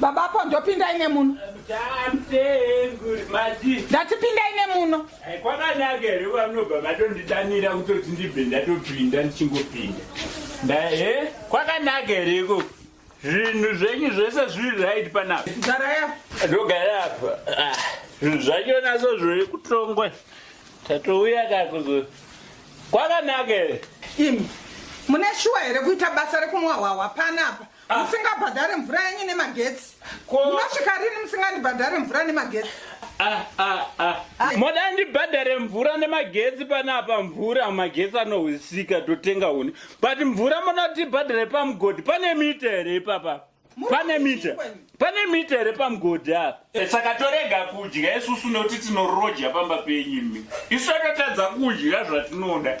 Baba apo ndopindai nemuno. Ndati pindai nemuno. Kwakanaka here vanobva vatondidanira kutoti ndibve ndatopinda ndichingopinda. Ndahe eh, kwakanaka here ikoko. Zvinhu zvenyu zvese zviri right panapa. Garaya. Ndogara apa. Ah, zvinhu zvacho naso zviri kutongwa. Tatouya kakuzo. Kwakanaka here. Imi mune shuwa here kuita basa rekumwa hwahwa panapa? Ah. musingabhadhare mvura yenyu nemagetsi munosvika rini musingandibhadhare mvura nemagetsi ah, ah, moda ndibhadhare mvura nemagetsi panapa mvura magetsi anohwisika totenga uni but mvura moda kuti ibhadhare pamugodhi pane mita here ipapa pane mita pane mita here pamugodhi apa eh, saka torega kudya isusu nekuti tinoroja pamba penyu imi isu akatadza kudya zvatinoda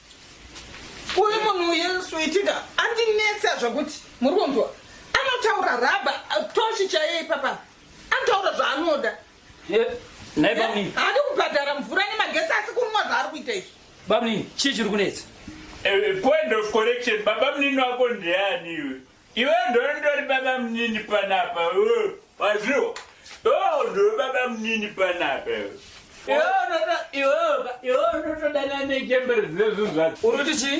uyu munhu yesu itika andinetsa zvakuti muri kunzwa anotaura raba toshi chaiye ipapa anotaura zvaanoda haadi kubhadhara mvura nemagesi asi kunwa zvaari kuita izvi bamnini chii chiri kunetsa eh, eh, point of correction babamnini wako ndeani iwe Iwe ndondori baba munini panapa pazviwo o ndori baba munini panapa iwe unotodana nechembere zvezvo zvacho uri kuti chii